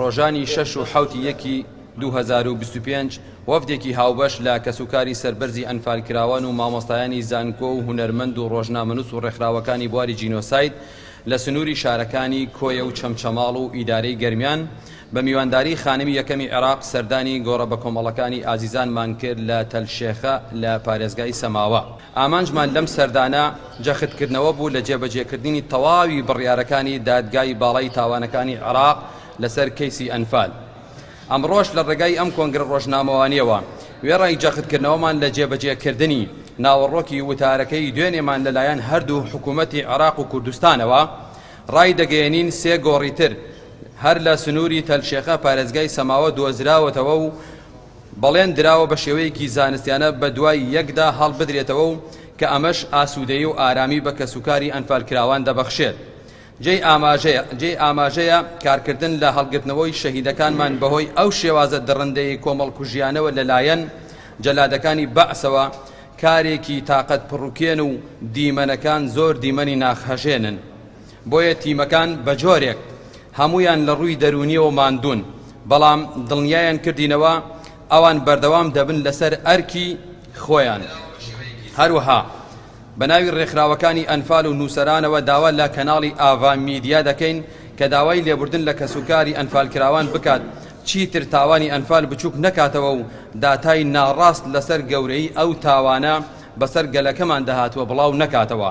ڕۆژانی شەش و حەوتی یەکی دوو هەزار و بیست و پێنج وەفدێکی هاوبەش لە کەسوکاری سەربەرزی ئەنفالکراوان و مامۆستایانی زانکۆ و هونەرمەند و ڕۆژنامەنووس و ڕێکخراوەکانی بواری جینۆساید لە سنووری شارەکانی کۆیە و چەمچەماڵ و ئیدارەی گەرمیان بە میوانداری خانمی یەکەمی عێراق سەردانی گۆڕە بەکۆمەڵەکانی ئازیزانمان کرد لە تەل شێخە لە پارێزگای سەماوە. ئامانجمان لەم سەردانە جەختکردنەوە بوو لە جێبەجێکردنی تەواوی بڕیارەکانی دادگای باڵای تاوانەکانی عێراق لەسەر کەیسی ئەنفال. ئەمڕۆش لە ڕێگای ئەم کۆنگرە ڕۆژنامەوانییەوە وێڕای جەختکردنەوەمان لە جێبەجێکردنی ناوەڕۆکی وتارەکەی دوێنێمان لەلایەن هەردوو حکوومەتی عێراق و کوردستانەوە ڕایدەگەیەنین سێ گۆڕی تر هەر لە سنووری تەلشێخە پارێزگای سەماوە دۆزراوەتەوە و بەڵێن دراوە بە شێوەیەکی زانستیانە بە دوای یەکدا هەڵبدرێتەوە و کە ئەمەش ئاسوودەیی و ئارامی بە کەسوکاری ئەنفالکراوان دەبەخشێت. جێی ئاماژەیە جێی ئاماژەیە کارکردن لە هەڵگرتنەوەی شەهیدەکانمان بەهۆی ئەو شێوازە دڕندەی کۆمەڵکوژیانەوە لەلایەن جەلادەکانی بەعسەوە کارێکی تاقەت پڕوکێن و دیمەنەکان زۆر دیمەنی ناخهەژێنن بۆیە تیمەکان بە جۆرێک هەموویان لە ڕووی دەروونیەوە ماندوون، بەڵام دڵنیایان کردینەوە ئەوان بەردەوام دەبن لەسەر ئەرکی خۆیان. هەروەها بە ناوی ڕێکخراوەکانی ئەنفال و نووسەرانەوە داوا لە کەناڵی ئاڤا میدیا دەکەین کە داوای لێبوردن لە کەسوکاری ئەنفالکراوان بکات چیتر تاوانی ئەنفال بچووک نەکاتەوە و داتای ناڕاست لەسەر گەورەیی ئەو تاوانە بەسەر گەلەکەماندا هاتووە بڵاو نەکاتەوە.